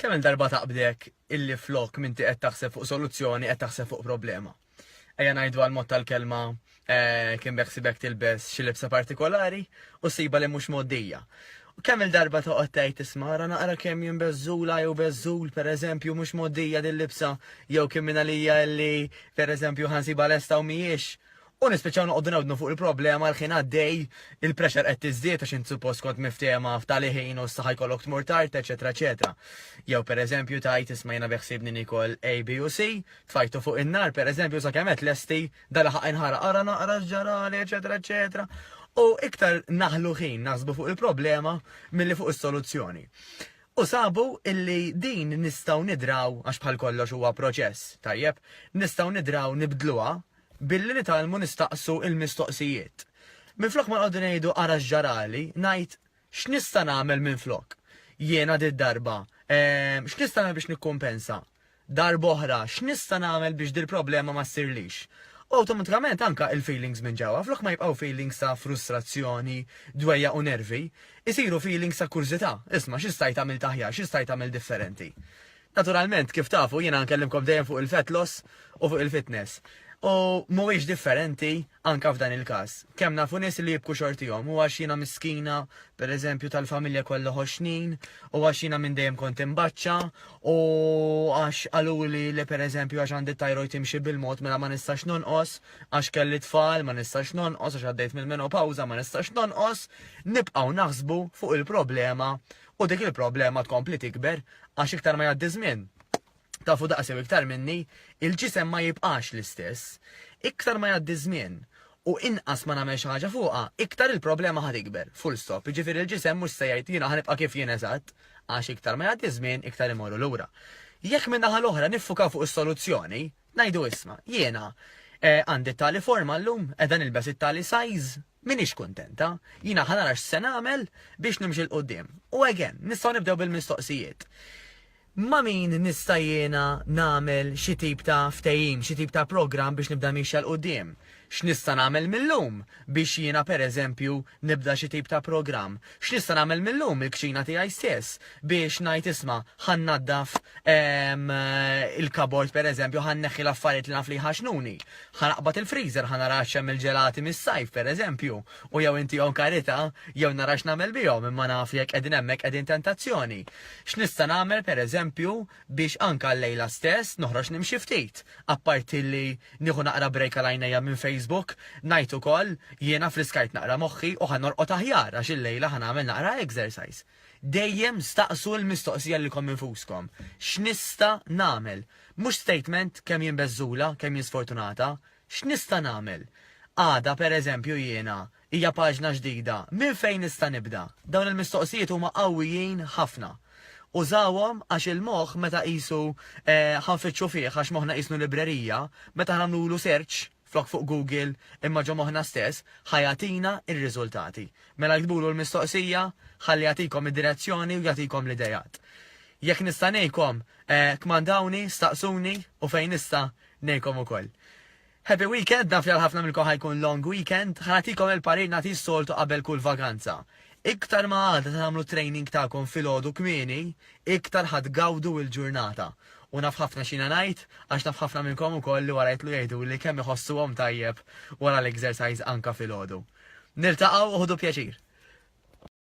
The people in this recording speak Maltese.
Kemm il-darba taqbdek illi flok minti qed taħseb fuq soluzzjoni qed taħseb fuq problema. Ejja ngħidu għal mod tal-kelma eh, kien beħsibek tilbes xi libsa partikolari u siba li mhux moddija. U kemm il-darba toqgħod tgħid tisma' ara naqra kemm jien beżżula jew beżżul pereżempju mhux moddija din libsa jew kemm minn għalija illi pereżempju ħansiba lesta u mhijiex U nispiċċaw noqogħdu newdnu fuq il-problema l-ħin għaddej, il-pressure qed tiżdied għax int suppost kont miftehma f'tali ħin u issa ħajkollok tmur tard, eċetera eċetera. Jew pereżempju tgħid isma' jiena beħsiebni niekol A, B u C, tfajtu fuq in-nar pereżempju sakemm qed lesti, da laħaq inħaraq ara naqra x'ġarali, eċetera eċetera. U iktar naħlu ħin naħsbu fuq il-problema milli fuq is-soluzzjoni. U sabu illi din nistgħu nidraw għax bħal kollox huwa proċess, tajjeb, nistgħu nidraw nibdluha billi nitgħallmu nistaqsu l-mistoqsijiet. Minflok ma nqogħdu ngħidu ara x'ġarali, ngħid, X'nista' nagħmel minflok? Jiena did-darba. Ehm, x'nista' nagħmel biex nikkumpensa? Darb'oħra, x'nista' nagħmel biex dil-problema ma ssirlix? U awtomatikament anke l-feelings minn ġewwa, flok ma jibqgħu feelings ta' frustrazzjoni, dwejjaq u nervi, isiru feelings ta' kurżità, isma' xi stajt għamilt aħjar, xi stajt għamilt differenti? Naturalment, kif tafu, jiena nkellimkom dejjem fuq il-fat loss u fuq il-fitness. U mhuwiex differenti anke f'dan il-każ. Kemm nafu nies li jibku xortihom u għax jiena miskina, pereżempju, tal-familja kollha ħoxnin, u għax jiena minn dejjem kont imbaċċa, u għax qaluli li pereżempju għax għandi t-thyroid timxi bil-mod mela ma nistax nonqos, għax kelli tfal ma nistax nonqos, għax għaddejt mill-menopawża ma nistax nonqos, nibqgħu naħsbu fuq il-problema U dik il-problema tkompli tikber għax iktar ma jgħaddi żmien, tafu daqs jew iktar minni, il-ġisem ma jibqax l-istess. Iktar ma jgħaddi ż-żmien u inqas ma nagħmel xi ħaġa fuqha, iktar il-problema ħa tikber. Full stop. Jiġifieri l-ġisem mhux se jgħid jiena ħa nibqa' kif jien eżatt, għax iktar ma jgħaddi ż-żmien iktar imorru lura. Jekk min-naħa l-oħra niffukaw fuq is-soluzzjoni, ngħidu isma' jiena eh, għandi t-tali forma llum, qiegħda nilbes it-tali size, M'iniex kuntenta, jiena ħa nara x'se nagħmel biex nimxi 'l quddiem. U again, nistgħu nibdew bil-mistoqsijiet. Ma' min nista' jiena nagħmel xi tip ta' ftehim, xi tip ta' programm biex nibda miexja 'l quddiem? X'nista' nagħmel mil-lum biex jiena pereżempju nibda xi tip ta' programm? X'nista' nagħmel mil-lum il-kċina tiegħi stess biex ngħid isma' ħa nnaddaf il-kabord pereżempju ħa nneħħi l-affarijiet li naf li jħaxnuni. Ħa naqbad il-freezer ħa nara x'hemm il-ġelati mis-sajf pereżempju u jew intihom karità jew nara x'nagħmel bihom imma naf li jekk qegħdin hemmhekk qegħdin tentazzjoni. X'nista' nagħmel pereżempju biex anke llejla stess noħroġ nimxi ftit. Apparti li nieħu naqra break għal għajnejja minn Facebook, ngħid ukoll, jiena friskajt naqra moħħi u ħa norqod aħjar għax illejla ħa nagħmel naqra exercise. Dejjem staqsu l-mistoqsija lilkom infuskom, X'nista' nagħmel? Mhux statement kemm jien beżżula, kemm jien sfortunata. X'nista' nagħmel? Għada, pereżempju, jiena Hija paġna ġdida. Minn fejn nista' nibda? Dawn il-mistoqsijiet huma qawwijin ħafna. Użawhom għax il-moħħ meta qisu ħa nfittxu fih għax moħħna qisnu librerija, meta ħa nagħmlulu search, flok fuq Google imma ġo moħħna stess, ħa jagħtina r-riżultati. Mela iktbulu l-mistoqsija ħalli jagħtikom id-direzzjoni u jagħtikom l-ideat. Jekk nista' ngħinkom, kmandawni, staqsuni u fejn nista' ngħinkom ukoll. Happy weekend, naf li għal ħafna minnkom ħa jkun long weekend, ħa nagħtikom il-parir nagħti s-soltu qabel kull vakanza. Iktar ma għada tagħmlu t-training tagħkom filgħodu kmieni, iktar ħa tgawdu l-ġurnata. U naf ħafna x'jiena ngħid, għax naf ħafna minnkom ukoll li wara jitlu jgħiduli kemm iħossuhom tajjeb wara l-exercise anka filgħodu. Niltaqgħu u ħudu pjaċir!